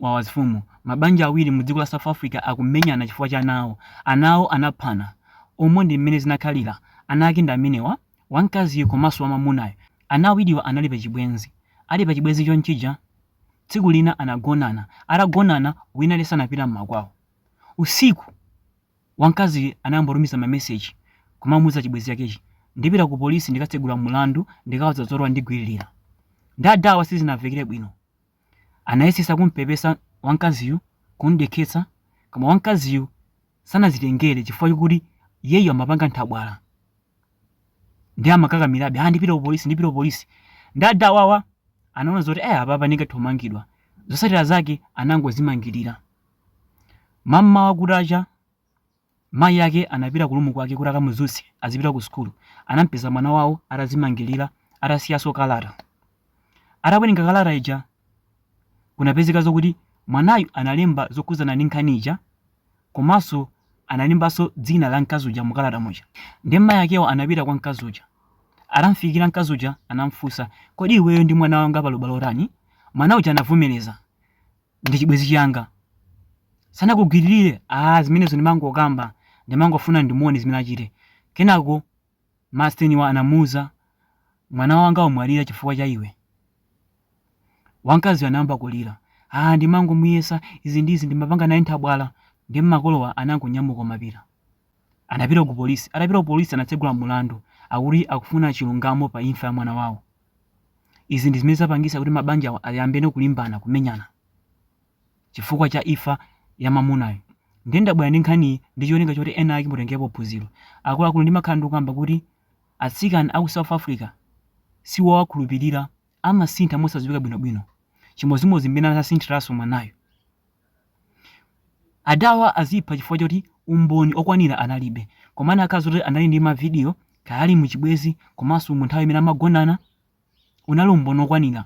Wawa mafumu, Mabanja awiri mu dziko la South Africa akumenyana chifukwa cha ana awo. Ana awo anaphana. Umu ndi mmene zinakhalira. Ana ake ndi amenewa, wamkaziyu komanso wamwamunayu. Ana awiriwa anali pa chibwenzi. Ali pa chibwenzi chonchija, tsiku lina anagonana. Atagonana, wina aliyense anapita m'makwawo. Usiku, wamkaziyu anayambotumiza mameseji kumamuuza chibwenzi chakechi, Ndipita ku polisi ndikatsegula mulandu ndikawauza zoti wandigwililira. Nde adawa sizinawamvekere bwino. Anayesetsa kum'pepesa wamkaziyu, kum'dekhetsa, koma wamkaziyu sanadzitengere chifukwa chokuti iyeyu amapanga nthabwala. Ndiye amakakamirabe, ah, ndipita ku polisi, ndipita ku polisi. Ndiye adawawa anaona zoti, eh, apapa ndingathe kumangidwa. Zotsatira zake anangodzimangirira. Mam'mawa kutacha, Mayi ake anapita ku room kwake kuti akamudzutse azipita ku sukulu. Anamupeza mwana wawo atadzimangilira atasiyanso kalata. Atawerenga kalata ija kunapezeka zokuti mwanayu analemba zokhudzana ndi nkhani ija komanso analembanso dzina la mkazi uja mu kalata muja. Ndiye mayi akewo anapita kwa mkazi uja. Atamufikira mkazi uja anamufunsa, kodi iweyo ndi mwana wanga pali ubale otani? Mwana uja anavomereza ndi chibwenzi changa sanakugwiririre ah zimenezo ndimangokamba ndimangofuna ndimuone zimene achite kenako masteniwa anamuuza mwana wanga wamwalira chifukwa cha iwe wamkaziyo anayamba kulira ah ndimangomuyesa izi ndizi ndimapanga naye nthabwala ndi makolowa anangonyamuka m'paka anapita ku polisi atapita ku polisi anatsegula mulandu akuti akufuna chilungamo pa imfa ya mwana wawo Izi ndi zimene zapangisa kuti mabanjawa ayambene kulimbana, kumenyana chifukwa cha imfa ya mamunayu. Ndiye ndabwera ndi nkhaniyi ndi cholinga choti enaake mutengerepo phunziro. Akuluakulu ndimakhala ndikukamba kuti atsikana aku South Africa siwowakhulupilira amasintha mosadziwika bwinobwino. Chimodzimodzi mmene anasinthiraso mwanayu. Adawa azipha chifukwa choti umboni okwanira analibe. Koma anakakhala zoti anali ndi ma video kaya ali mu chibwezi komanso mu nthawi imene amagonana unali umboni okwanira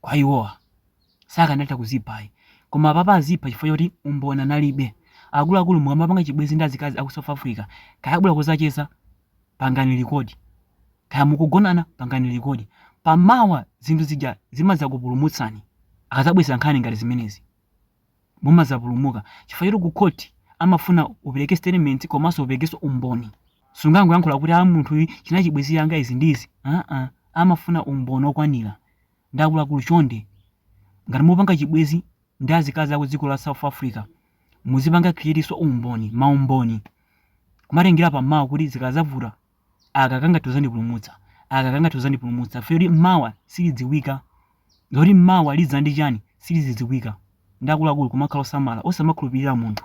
kwa iwowa. Sakanatha kuzipha ayi. Koma apapa azipha chifukwa choti umboni analibe. Akuluakulu mukamapanga chibwezi ndi azikazi aku South Africa kaya abwera kuzacheza pangani likodi. Kaya mukugonana, pangani likodi. Pa mawa zinthu zija zimadzakupulumutsani. Akadzabweza nkhani ngati zimenezi, mumadzapulumuka. Chifukwa choti ku court amafuna upereke statement komanso uperekenso umboni. Sungangoyankhula kuti a munthu chinali chibwezi changa izi ndi izi. Aa, amafuna umboni okwanira. Ndiye akuluakulu chonde. Ngati mupanga chibwezi ndi azikazi aku dziko la South Africa, muzipanga create'nso umboni, maumboni. kumatengera pa mawa kuti zikazavuta aka kangathe kuzandipulumutsa aka kangathe kuzandipulumutsa chifukwa choti mawa silidziwika zoti mawa lidza ndi chiyani silizidziwika ndi akuluakulu kumakhala osamala osamakhulupirira munthu